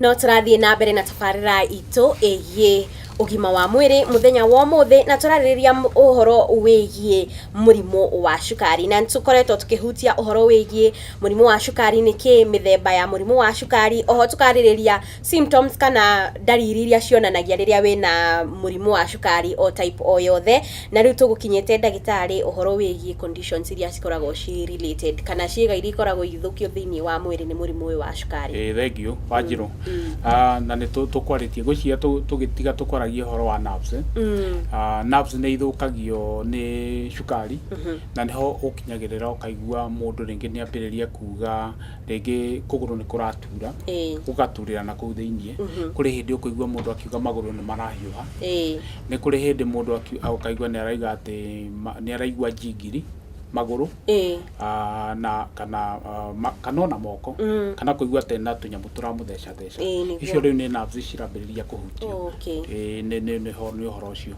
no tũrathiĩ na mbere na tabarĩra itũ ĩgiĩ ũgima wa mwĩrĩ mũthenya wa ũmũthĩ na tũrarĩrĩria m- ũhoro wĩgiĩ mũrimũ wa cukari na nĩtũkoretwo tũkĩhutia ũhoro wĩgiĩ mũrimũ wa cukari nĩkĩ mĩthemba ya mũrimũ wa cukari oho tũkarĩrĩria Symptoms kana ndariri iria cionanagia rĩrĩa wĩna mũrimũ wa cukari o type o yothe, na rĩu tũgũkinyĩte ndagĩtarĩ ũhoro wĩgiĩ conditions iria cikoragwo ci related kana ciĩga iria ikoragwo igĩthũkio thĩinĩ wa mwĩrĩ nĩ mũrimũ ũyũ wa cukari. Ĩĩ thengiũ Wanjirũ. Na nĩ tũkwarĩtie, ngwĩciria tũgĩtiga tũkwaragia ũhoro wa nerves. Nerves nĩ ithũkagio nĩ cukari na nĩho ũkinyagĩrĩra ũkaigua mũndũ rĩngĩ nĩ ambĩrĩria kuga rĩngĩ kũgũrũ nĩ kũratura Ĩĩ. gũgaturĩra na kũu thĩinĩ kũrĩ hĩndĩ ũkũigua mũndũ akiuga magũrũ nĩ marahiũha Ĩĩ. nĩ kũrĩ hĩndĩ mũndũ aki- a- ũkaigua nĩ araiga atĩ ma- nĩ araigua njingiri magũrũ Ĩĩ. ah, na kana ah, ma- kana ona moko kana kũigua atĩ na tũnyamũ tũramũthecatheca Ĩĩ, nĩguo. icio rĩu nĩ nerves cirambĩrĩria kũhutio Okay. Ĩĩ, nĩ- nĩ- nĩho nĩ ũhoro ũcio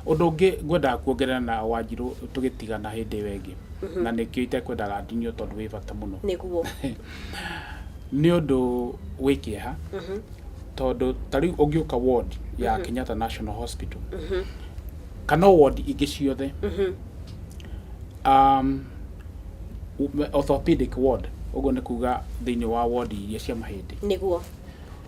ũndũ ũngĩ ngwendaga kuongerera na wanjirũ tũgĩtigana hĩndĩ ĩyo ĩngĩ na nĩkĩo itekwendaga ndinio tondũ wĩ bata mũno nĩguo nĩ ũndũ wĩ kĩeha tondũ ta rĩu ũngĩũka ward ya Kenyatta National Hospital kana o ward ingĩ ciothe um, orthopedic ward ũguo nĩ kuga thĩinĩ wa ward iria cia mahĩndĩ nĩguo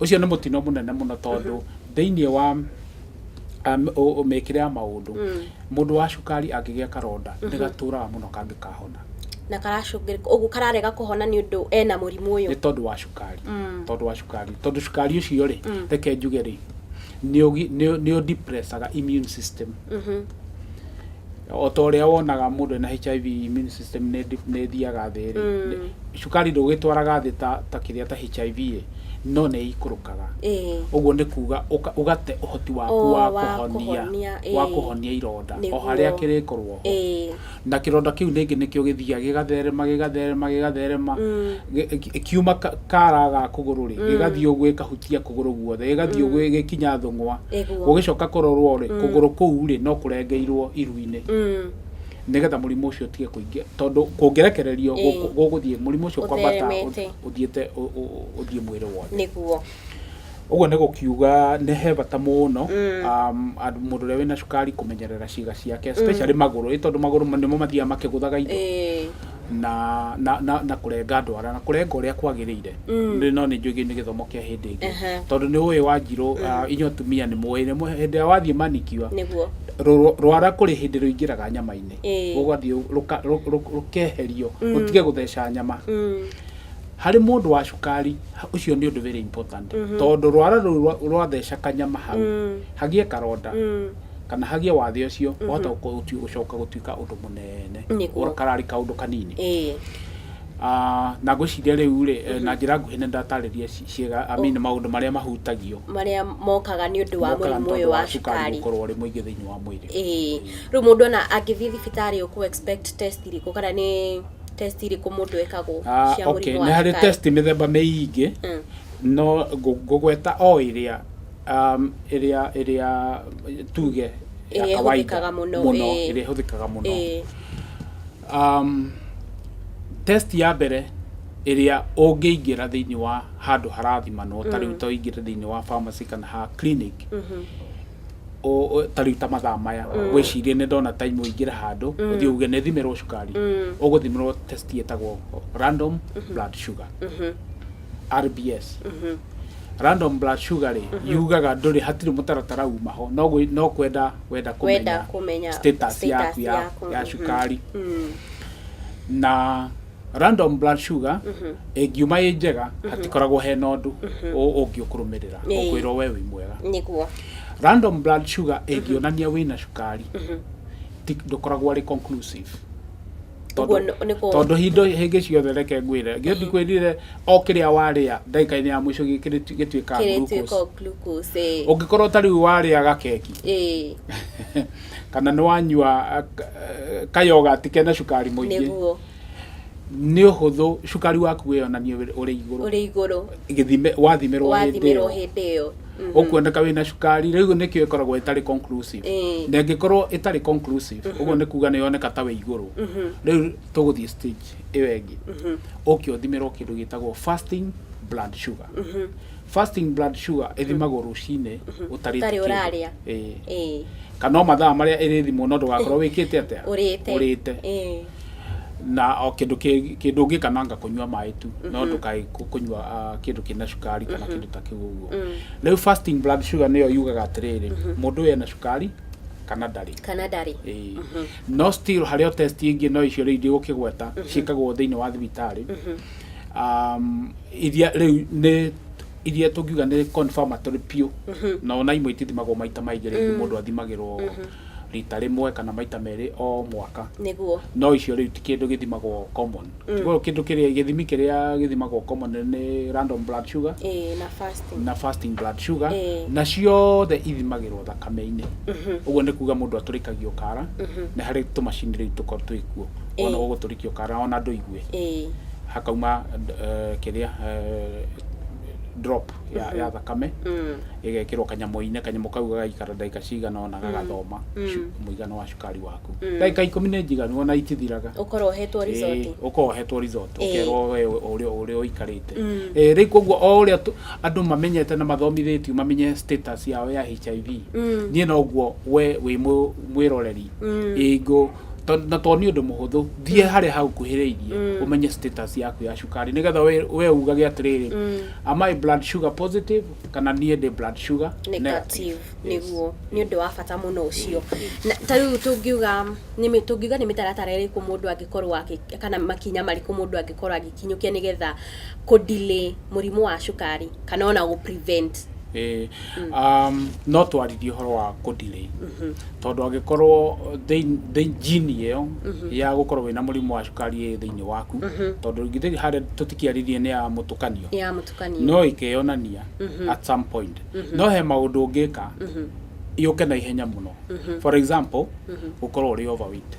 Ũcio nĩ mũtino mũnene mũno tondũ thĩinĩ wa um, ũ- ũ- mĩkĩre ya maũndũ mũndũ wa cukari angĩgĩa karonda nĩ gatũraga mũno kangĩkahona na karacũngĩrĩka ũguo kararega kũhona nĩ ũndũ ena mũrimũ ũyũ nĩ tondũ wa cukari tondũ wa cukari tondũ cukari ũcio rĩ reke njuge rĩ nĩ ũgi- nĩ- nĩ ũdepressaga immune system o ta ũrĩa wonaga mũndũ ena HIV immune system nĩ ĩthiaga thĩ rĩ cukari ndũgĩtwaraga thĩ ta kĩrĩa ta HIV ĩ no nĩ ĩikũrũkaga ũguo nĩ kuga ũgate ũhoti waku wa kũhonia ironda o harĩa kĩrĩkorwo ho. na kĩronda kĩu ningĩ nĩkĩo gĩthiaga gĩgatherema gĩgatherema gĩgatherema gĩ- gĩ- kiuma ka- kara ga kũgũrũ rĩ gĩgathiĩ ũguo gĩkahutia kũgũrũ guothe gĩgathiĩ ũguo gĩkinya thũng'wa Ĩguo. gũgĩcoka kũrorwo rĩ kũgũrũ kũu rĩ no kũrengeirwo iru-inĩ Mm. nĩgetha mũrimũ ũcio ũtige kũingĩ tondũ kũngĩrekererio Ĩĩ. gũkũ- gũgũthiĩ mũrimũ ũcio kwambata Ũtheremete. ũthiĩte ũ- ũ- ũthiĩ mwĩrĩ wothe nĩguo Ũguo nĩ gũkiuga nĩ he bata mũno um, andũ- mũndũ ũrĩa wĩna cukari kũmenyerera ciĩga ciake especially magũrũ ĩ tondũ magũrũ nĩmo mathiaga makĩgũthaga indo Ĩĩ. na, na, na, na kũrenga ndwara na kũrenga ũrĩa kwagĩrĩire Nĩ- no nĩ njũgĩ nĩ gĩthomo kĩa hĩndĩ ĩngĩ Aha. tondũ nĩ ũĩ wa njirũ uh, inyuĩ atumia nĩ mũĩ nĩ mũĩ- hĩndĩ ĩrĩa wathiĩ manikiwa nĩguo rũ- rwara kũrĩ hĩndĩ rũingĩraga nyama-inĩ Ĩĩ. rũgathiĩ rũka- rũ- rũ- rũkeherio rũtige gũtheca nyama Mm. Harĩ mũndũ wa cukari, ũcio nĩ ũndũ very important. Tondũ rwara rũu rwa- rwatheca kanyama hau, hagĩe karonda, kana hagĩe wathe ũcio, wahota gũtui- gũcoka gũtuĩka ũndũ mũnene. Nĩguo. Ũra- Kararĩ kaũndũ kanini. Ĩĩ. Ah, na ngwĩciria rĩu-rĩ, na njĩra nguhĩ nĩndatarĩria ci- ciĩga, I mean maũndũ marĩa mahutagio marĩa mokaga nĩ ũndũ wa mokaga mũrimũ nĩ ũyũ tondũ wa cukari gũkorwo ũrĩ mũingĩ thĩinĩ wa mwĩrĩ. ĩĩ rĩu mũndũ ona angĩthiĩ thibitarĩ ũkũ expect test irĩkũ kana nĩ test irĩkũ mũndũ ekagwo Ah, cia okay. mũrimũ nĩ wa harĩ cukari test mĩthemba mĩingĩ Mm. no ngũ- ngũgweta o ĩrĩa um, ĩrĩa ĩrĩa tuge ya Ĩrĩa kawaida ĩhũthĩkaga mũno, mũno ĩĩ. ĩrĩa ĩhũthĩkaga mũno Ĩĩ, um, test ya mbere ĩrĩa ũngĩingĩra thĩinĩ wa handũ harathimanwo ta rĩu to ingĩre thĩinĩ wa pharmacy kana ha clinic ũ- ũ- ta rĩu ta mathaa maya wĩcirie nĩ ndona time ũingĩre handũ ũthiĩ uge nĩ thimirwo cukari ũgũthimirwo test ĩtagwo random blood sugar rbs random blood sugar rĩ yugaga ndũrĩ hatirĩ mũtaratara uma ho no gwĩ- no kwenda wenda Wenda kũmenya kumenya status status yaku ya yaku. ya cukari na random blood sugar ĩngiuma ĩ njega hatikoragwo hena ũndũ ũ- ũngĩũkũrũmĩrĩra Ĩĩ. ũkwĩrwo we wĩ mwega nĩguo random blood sugar ĩngĩonania wĩna cukari ti- ndũkoragwo arĩ conclusive Ũguo nĩ- nĩ kũ- tondũ hindo hĩngĩ ciothe reke ngwĩre ngĩthi kwĩrire o kĩrĩa warĩa ndagĩka-inĩ ya mũico gĩ- kĩrĩ- gĩtuĩkaga glucose kĩrĩtuĩka glucose ĩĩ. ũngĩkorwo ta rĩu warĩa gakeki ĩĩ kana nĩ wanyua kayogati kena cukari mũingĩ nĩguo nĩ ũhũthũ cukari waku wĩyonanie ũrĩ- ũrĩ igũrũ ũrĩ igũrũ Gĩthime- wathimirwo hĩndĩ wathimirwo ĩyo hĩndĩ ĩyo Mhm. ũkuoneka wĩna cukari rĩu nĩkĩo ĩkoragwo ĩtarĩ conclusive Ĩĩ. na ĩngĩkorwo ĩtarĩ conclusive ũguo nĩ kuga nĩ yoneka ta wĩ igũrũ rĩu tũgũthiĩ stage ĩyo ĩngĩ ũke ũthimirwo kĩndũ gĩtagwo fasting blood sugar Fasting blood sugar ĩthimagwo rũcinĩ ũtarĩte Ũtarĩ kĩndũ. ũrarĩa. Ĩĩ. Ĩĩ. kana o mathaa marĩa ĩrĩthimwo no ndũgakorwo wĩkĩte atĩa Ũrĩte. ũrĩte Ĩĩ. na o kĩndũ kĩ- kĩndũ ũngĩ kananga kũnyua maĩ tu no ndũkae kũ- kũnyua ah, kĩndũ kĩna cukari kana kĩndũ ta kĩu ũguo rĩu fasting blood sugar nĩyo yugaga atĩrĩrĩ mũndũ ũyũ ena cukari kana ndarĩ Kana ndarĩ. Ĩĩ. no still harĩ o test ingĩ no icio rĩu ndigũkĩgweta ciĩkagwo thĩinĩ wa thibitarĩ um, iria rĩu nĩ iria tũngiuga nĩ confirmatory biũ na ona imwe itithimagwo maita maingĩ rĩngĩ mũndũ athimagĩrwo rita rĩmwe kana maita merĩ o mwaka nĩguo no icio rĩu ti kĩndũ gĩthimagwo common Kiugo kĩndũ kĩrĩa gĩthimi kĩrĩa gĩthimagwo common nĩ random blood sugar ĩĩ na fasting na fasting blood sugar Ĩĩ. na ciothe ithimagĩrwo thakame-inĩ ũguo nĩ kuga mũndũ atũrĩkagio kara na harĩ tũmacini rĩu tũkorwo twĩ kuo ona Ĩĩ. ũgũtũrĩkio kara ona ndũigwe Ĩĩ. hakauma eh, kĩrĩa eh, drop ya, ya thakame ĩgekĩrwo kanyamũ-inĩ kanyamũ kau gagaikara ndagĩka cigana ona gagathoma cu- mũigana wa cukari waku ndagĩka ikũmi nĩ njiganu ona itithiraga Ũkorwo ũhetwo resort. Ĩĩ, ũkorwo ũhetwo resort Ĩĩ. ũkerwo we ũrĩa ũrĩa ũikarĩte Ĩĩ, rĩu koguo o ũrĩa tũ- andũ mamenyete na mathomithĩtio mamenye status yao ya hiv niĩ noguo we wĩ mũ- mwĩroreri ĩngũ To- na to nĩ ũndũ mũhũthũ thiĩ harĩa hagukuhĩrĩirie ũmenye status yaku ya cukari nĩgetha we- we ugage atĩrĩrĩ am I blood sugar positive kana niĩ ndĩ blood sugar negative Yes. nĩguo nĩ ũndũ wa bata mũno ũcio Na ta rĩu tũngiuga nĩ mĩ- tũngiuga nĩ mĩtaratara ĩrĩkũ mũndũ angĩkorwo agĩ- kana makinya marĩkũ mũndũ angĩkorwo agĩkinyũkia nĩgetha kũ delay mũrimũ wa cukari kana ona gũ prevent Ĩĩ, um, no twaririe ũhoro wa kũ delay tondũ angĩkorwo thĩin- thĩin- gene ĩyo ya gũkorwo wĩna mũrimũ wa cukari ĩ thĩinĩ waku tondũ githĩ harĩa tũtikĩaririe nĩ ya mũtukanio Nĩ ya mũtukanio. no ĩkeyonania at some point no he maũndũ ũngĩka yũke na ihenya mũno for example gũkorwo ũrĩ overweight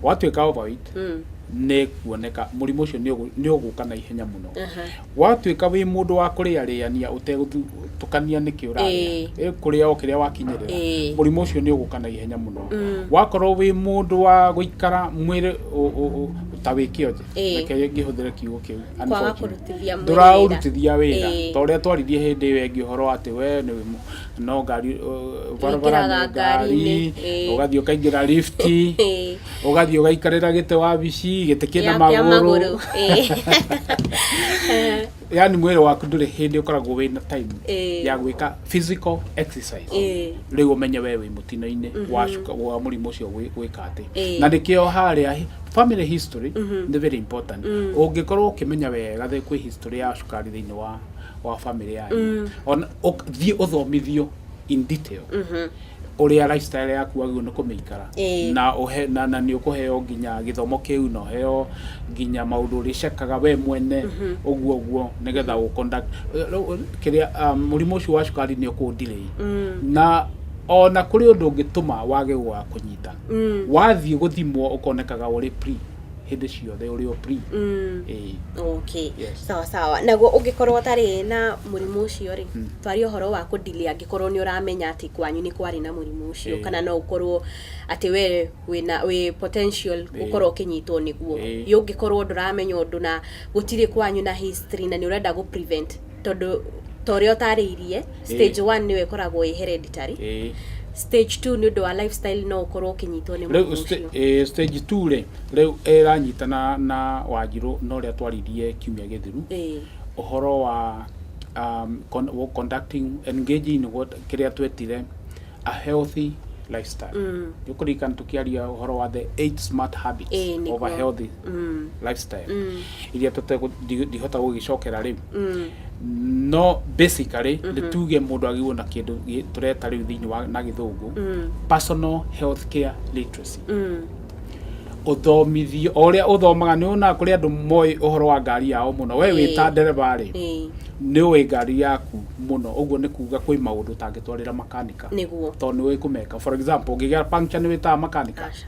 watuĩka overweight nĩ kuoneka mũrimũ ũcio nĩ ũgũ- nĩ ũgũka na ihenya mũno Watuĩka wĩ mũndũ wa kũrĩarĩania ũtegũtukania nĩkĩ ũrarĩa, Ĩĩ. ĩ kũrĩa o kĩrĩa wakinyĩrĩra, Ĩĩ. mũrimũ ũcio nĩ ũgũka na ihenya mũno. Wakorwo wĩ mũndũ wa gũikara mwĩrĩ ũ- ũ- ũ- ta wĩ kĩonje, Ĩĩ. reke ngĩhũthĩre kiugo kĩu, Kwaga unfortunately. kũrutithia mwĩrĩ wĩra. ndũraũrutithia wĩra Ĩĩ. ta ũrĩa twaririe hĩndĩ ĩyo ĩngĩ ũhoro wa atĩ we nĩ wĩ- no ngari ũ- barabara Wĩingĩraga nĩ ngari ngari-inĩ, Ĩĩ. ũgathiĩ ũkaingĩra lift Ĩĩ. ũgathiĩ ũgaikarĩra gĩtĩ wabici gĩtĩ kĩna Ya- kĩa magũrũ ĩĩ. yani mwĩrĩ waku ndũrĩ hĩndĩ ũkoragwo wĩna time Ĩĩ. ya gwĩka physical exercise Ĩĩ. rĩu ũmenye we wĩ mũtino-inĩ wacuka wa mũrimũ ũcio gwĩ- gwĩka atĩ Ĩĩ. na nĩkĩo harĩa hi- family history nĩ very important ũngĩkorwo ũkĩmenya wega thĩ kwĩ history ya cukari thĩinĩ wa wa family yanyu ona ũk- thiĩ ũthomithio in detail ũrĩa lifestyle yaku wagĩrĩirwo nĩ kũmĩikara Ĩĩ. na ũhe na, na nĩ ũkũheo nginya gĩthomo kĩu na ũheo nginya maũndũ ũrĩcekaga we mwene ũguo ũguo nĩgetha ũ conduct kĩrĩa um, mũrimũ ũcio wa cukari nĩ ũkũndirĩi na ona kũrĩ ũndũ ũngĩtũma wage gwa kũnyita wathiĩ gũthimwo ũkonekaga ũrĩ pre hĩndĩ ciothe ũrĩ o free ĩĩ Okay. Yes. Sawa sawa. Naguo ũngĩkorwo ũtarĩ na mũrimũ ũcio rĩ, twaria ũhoro wa kũndili angĩkorwo nĩ ũramenya atĩ kwanyu nĩ kwarĩ na mũrimũ ũcio Ĩĩ. kana no ũkorwo atĩ we wĩna wĩ potential gũkorwo ũkĩnyitwo nĩguo. Ĩĩ. Ĩ ũngĩkorwo ndũramenya ũndũ na gũtirĩ kwanyu na history na nĩ ũrenda gũ prevent tondũ ta ũrĩa ũtarĩirie stage one nĩyo ĩkoragwo ĩ hereditary Eh, stage two nĩ ũndũ wa lifestyle no ũkorwo ũkĩnyitwo nĩ mũrimũ rĩu sta- ũcio eh, stage two rĩ rĩu ĩranyitana na wanjirũ na ũrĩa twaririe kiumia gĩthiru Ĩĩ. ũhoro wa um, con wo- conducting engaging in what kĩrĩa twetire a healthy lifestyle mm. nĩũkũririkana tũkĩaria ũhoro wa the eight smart habits Ĩĩ, nĩguo. of a healthy lifestyle iria tũtangĩhota gũgĩcokera rĩ no basically nĩ tuge mũndũ agĩrĩirwo na kĩndũ gĩ- tũreta rĩu thĩinĩ wa na gĩthũngũ personal health care literacy ũthomithio o ũrĩa ũthomaga nĩ wonaga kũrĩ andũ moĩ ũhoro wa ngari yao mũno we wĩ ta Ĩĩ. ndereba rĩ Ĩĩ. nĩ ũĩ ngari yaku mũno ũguo nĩ kuga kwĩ maũndũ ũtangĩtwarĩra makanika Nĩguo. tondũ nĩ ũĩ kũmeka for example ũngĩgĩa puncture nĩ wĩtaga makanika Aca.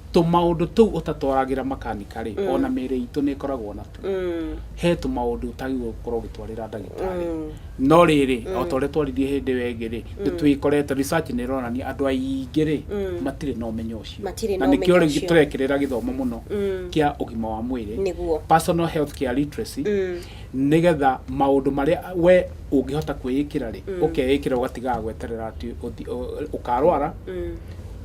Tũmaũndũ tũu ũtatwaragĩra makanika-rĩ, o na mĩĩrĩ itũ nĩ ĩkoragwo natuo. He tũmaũndũ ũtagĩrĩirũo gũkorũo ũgĩtwarĩra ndagĩtarĩ. No rĩrĩ, o ta ũrĩa twaririe hĩndĩ ĩyo ĩngĩ-rĩ, nĩ twĩkorete, research nĩ ĩronania andũ aingĩ-rĩ, matirĩ na ũmenyo ũcio. Na nĩkĩo rĩu tũrekĩrĩra gĩthomo mũno kĩa ũgima wa mwĩrĩ, personal healthcare literacy, nĩgetha maũndũ marĩa we ũngĩhota kwĩĩkĩra-rĩ ũkeĩkĩra ũgatigaga gweterera atĩ ũthi- ũ- ũkarwara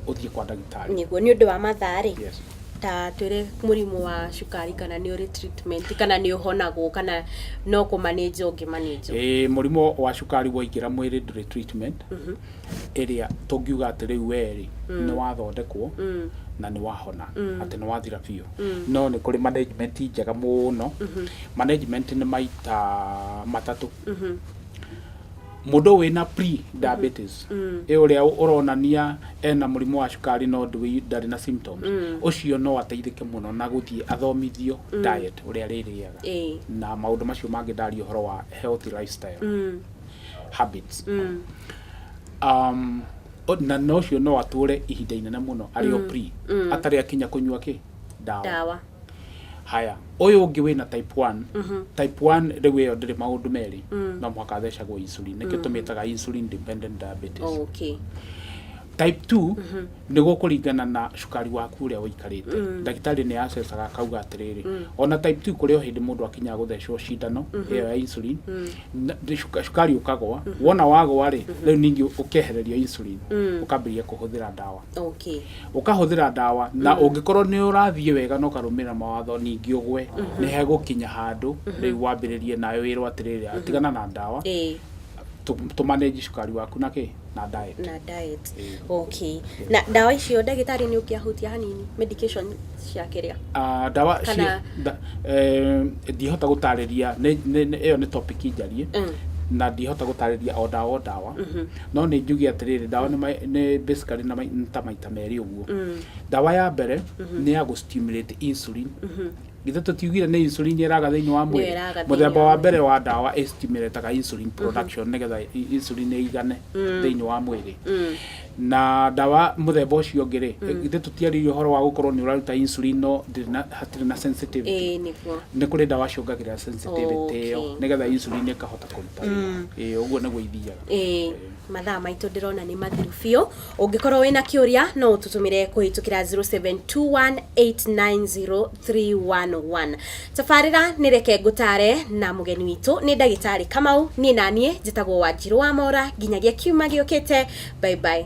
ũthiĩ kwa ndagĩtarĩ nĩguo nĩ ũndũ wa mathaa rĩ Yes. ta twĩre mũrimũ wa cukari kana nĩ ũrĩ treatment kana nĩ ũhonagwo kana no kũmanĩnja ũngĩmanĩnja Ĩĩ, mũrimũ wa cukari waingĩra mwĩrĩ ndũrĩ treatment ĩrĩa tũngiuga atĩ rĩu werĩ nĩ wathondekwo na nĩ wahona atĩ nĩ wathira biũ no nĩ kũrĩ management njega mũno management nĩ maita matatũ mũndũ wĩna pre diabetes ĩ ũrĩa ũronania ena mũrimũ wa cukari no ndũi- ndarĩ na symptoms ũcio no ateithĩke mũno na gũthiĩ athomithio diet ũrĩa arĩrĩaga Ĩĩ. na maũndũ macio mangĩ ndaria ũhoro wa healthy lifestyle habits um, o- na na ũcio no atũre ihinda inene mũno arĩ o pre atarĩ akinya kũnyua kĩ ndawa ndawa Haya, ũyũ ũngĩ wĩna type 1. Type 1 rĩu ĩyo ndĩrĩ maũndũ merĩ. No mũhaka athecagwo insulin. Nĩkĩo tũmĩtaga insulin dependent diabetes. Okay. Type 2 nĩ gũkũringana na cukari waku ũrĩa ũikarĩte. Ndagĩtarĩ nĩ acecaga akauga atĩrĩrĩ, ona type 2 kũrĩ o hĩndĩ mũndũ akinyaga gũthecwo cindano ĩyo ya insulin, na- cuka- cukari ũkagũa. Wona wagũa-rĩ, rĩu ningĩ ũkehererio insulin, ũkambĩrĩria kũhũthĩra ndawa. okay ũkahũthĩra ndawa na ũngĩkorwo nĩ ũrathiĩ wega na ũkarũmĩrĩra mawatho ningĩ ũgwe nĩ hegũkinya handũ rĩu wambĩrĩrie nawe wĩrwo atĩrĩrĩ tigana na ndawa ĩĩ tũ- tũmanage cukari waku na kĩ na diet na diet okay na ndawa icio ndagĩtarĩ nĩ ũngĩahutia hanini medication cia kĩrĩa Ah, ndawa Kana- cia nda- eh, ndihota gũtarĩria nĩ- nĩ- nĩ- ĩyo nĩ topic njarie na ndihota gũtarĩria o ndawa o ndawa no nĩ njuge atĩrĩrĩ ndawa nĩ ma- nĩ basically na ma- nĩ ta maita merĩ ũguo ndawa ya mbere nĩ ya gũ stimulate insulin githĩ tũtiugire nĩ insulin ĩraga thĩinĩ wa mwĩrĩ ĩraga thĩinĩ mũthemba wa wa mwĩrĩ. mbere wa ndawa ĩ stimulataga insulin production nĩgetha i- insulin ĩigane thĩinĩ wa mwĩrĩ na ndawa mũthemba ũcio ũngĩ rĩ githĩ tũtiarĩirie ũhoro wa gũkorwo nĩ ũraruta insulin no ndĩrĩ na- hatirĩ na sensitivity ĩĩ nĩguo nä kå rä ndawa ciongagä rä ra sensitivity ä yo Okay. nä getha insulin ä kahota kå ruta wĩra. Ĩĩ, å guo nä guo ithiaga Ĩĩ, mathaa maitũ ndĩrona nĩ mathiru biũ. Ũngĩkorwo wĩna kĩũria no ũtũtũmĩre kũhĩtũkĩra 0721890311. Tabarĩra nĩ reke ngũtare na mũgeni witũ nĩ ndagĩtarĩ Kamau, niĩ naniĩ njĩtagwo Wanjirũ Wamora nginyagia kiumia gĩũkĩte, bye bye.